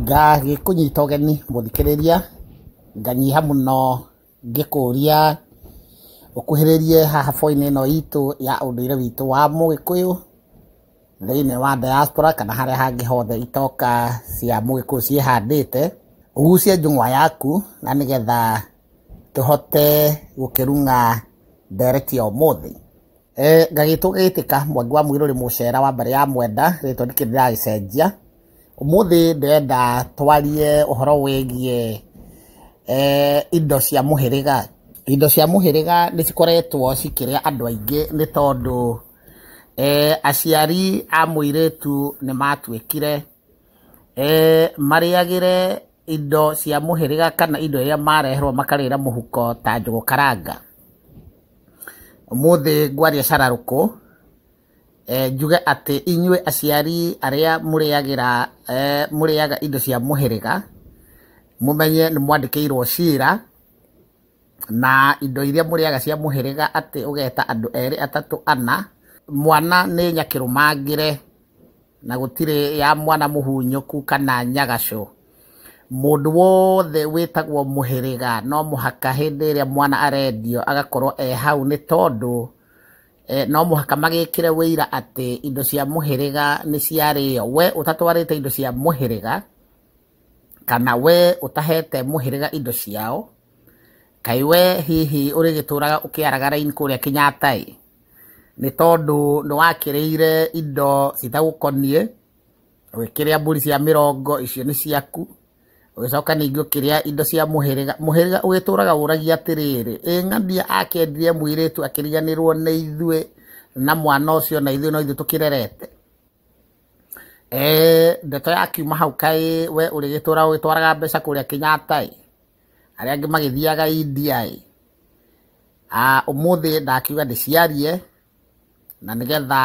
Ngagĩkũnyita ũgeni mũthikĩrĩria, nganyiha mũno ngĩkũria ũkuhĩrĩrie haha boo-inĩ ĩno itũ ya ũndũire witũ wa mũgĩkũyũ, thĩiniĩ wa diaspora kana harĩa hangĩ hothe itoka cia mũgĩkũyũ ciĩhandĩte, ũgucie njũng'wa yaku na nĩgetha tũhote gũkĩruga ndereti ya ũmũthĩ. Eh, gagĩtũ gĩtĩka mwangi wa mũirũ rĩ mũcera wa mbarĩ ya mwenda rĩtwa ndikĩrĩ ndĩragĩcenjia ũmũthĩ ndĩrenda twarie ũhoro wĩgiĩ eh, indo cia mũhĩrĩga indo cia mũhĩrĩga nĩ cikoretwo cikĩrĩa andũ aingĩ nĩ tondũ eh, aciari a mũirĩtu nĩ matuĩkire eh, marĩagĩre indo cia mũhĩrĩga kana indo iria mareherwo makarĩra mũhuko ta njũgũ karanga. Ũmũthĩ ngwaria cararũkũ eh, njuge atĩ inyuĩ aciari arĩa mũrĩagĩra eh, mũrĩaga indo cia mũhĩrĩga mũmenye nĩ mwandĩkĩirwo cira na indo iria mũrĩaga cia mũhĩrĩga atĩ ũgeta andũ erĩ atatũ ana mwana nĩ nyakĩrũmangĩre na gũtirĩ ya mwana mũhunyũku kana nyagacũ mũndũ wothe wĩtagwo mũhĩrĩga no mũhaka hĩndĩ ĩrĩa mwana arendio agakorwo e hau nĩ tondũ eh, no mũhaka magĩkĩre wĩira atĩ indo cia mũhĩrĩga nĩ ciarĩo we ũtatwarĩte indo cia mũhĩrĩga kana we ũtahete mũhĩrĩga indo ciao kaĩ we hihi ũrĩgĩtũraga ũkĩaraga raini kũrĩa kĩnyataĩ nĩ tondũ nĩ wakĩrĩire indo citagũkoniĩ, ũgĩkĩrĩa mbũri cia mĩrongo icio nĩ ciaku, ũgĩcoka ningĩ ũkĩrĩa indo cia mũhĩrĩga, mũhĩrĩga ũgĩtũraga ũragia atĩrĩrĩ, ĩ ng'ania akĩendire mũirĩtu akĩriganĩrwo nĩ ithuĩ na mwana ũcio na ithuĩ no ithuĩ tũkĩrerete? Ndeto yakiuma hau kaĩ we ũrĩgĩtũraga ũgĩtwaraga mbeca kũrĩa Kenyatta-ĩ. arĩa angĩ magĩthiaga India ĩ, ah, ũmũthĩ ndakiuga ndĩciarie na nĩgetha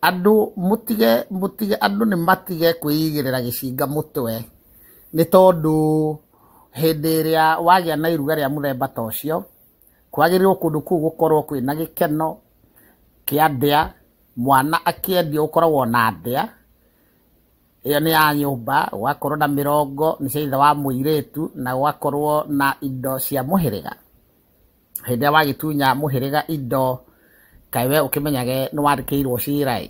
andũ mũtige mũtige andũ nĩ matige kwĩigĩrĩra gĩcinga mũtwe nĩ tondũ hĩndĩ ĩrĩa wagĩa na iruga rĩa mũthemba ta ũcio kwagĩrĩirwo kũndũ kũu gũkorwo kwĩna gĩkeno kĩa ndĩa mwana akĩendio ũkoragwo na ndĩa ĩyo nĩ ya nyũmba gũgakorwo na mĩrongo nĩ cia ithe wa mũirĩtu na gũgakorwo na indo cia mũhĩrĩga hĩndĩ ĩrĩa wagĩtunya mũhĩrĩga indo kaĩ we ũkĩmenyage nĩ wandĩkĩirwo cira ĩ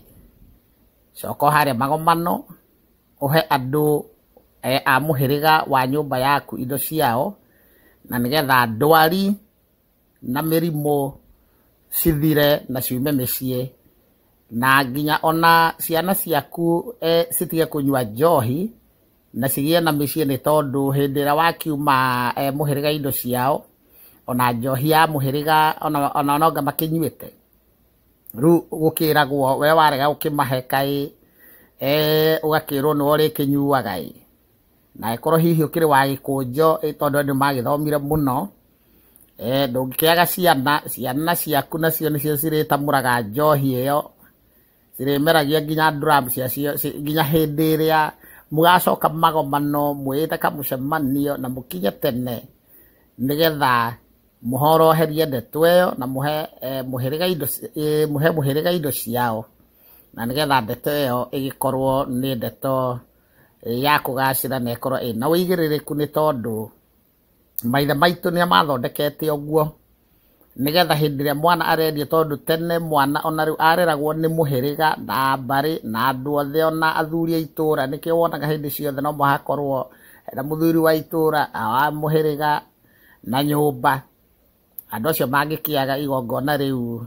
coka harĩa magomano ũhe andũ eh, a mũhĩrĩga wa nyũmba yaku indo ciao na nĩgetha ndwari na mĩrimũ cithire na ciume mĩciĩ, na nginya ona ciana ciaku citige kũnyua njohi, na cigĩe na mĩciĩ nĩ tondũ hĩndĩ ĩrĩa wakiuma mũhĩrĩga indo ciao, ona njohi ya mũhĩrĩga ona noanga makĩnyuĩte, rĩu gũkĩragwo we warega gũkĩmahe kaĩ, ũgakĩrwo nĩwe ũrĩkĩnyuaga ĩ. na ĩkorwo hihi ũkĩrĩ wa gĩkũnjo ĩ tondũ andũ magĩthomire mũno eh, ndũngĩkĩaga ciana ciana ciaku nacio nĩcio cirĩtamũraga njohi ĩyo cirĩmeragia nginya nduramu ciacio ci- nginya hĩndĩ ĩrĩa mũgacoka magomano mwĩĩte kamũcemanio na mũkinye tene nĩgetha mũhoroherie ndeto ĩyo na mũhe eh, mũhĩrĩga indo ci- eh, mũhe mũhĩrĩga indo ciao na nĩgetha ndeto ĩyo ĩgĩkorwo nĩ ndeto ya kũgacĩra na ĩkorwo ĩna ũigĩrĩrĩku nĩ tondũ maithe maitũ nĩ mathondekete ũguo nĩgetha hĩndĩ ĩrĩa mwana arendio tondũ tene mwana ona rĩu areragwo nĩ mũhĩrĩga na mbarĩ na andũ othe ona athuri a itũra nĩkĩo wonaga hĩndĩ ciothe no mũhakorwo na mũthuri wa itũra wa mũhĩrĩga na nyũmba andũ acio mangĩkĩaga igongona rĩu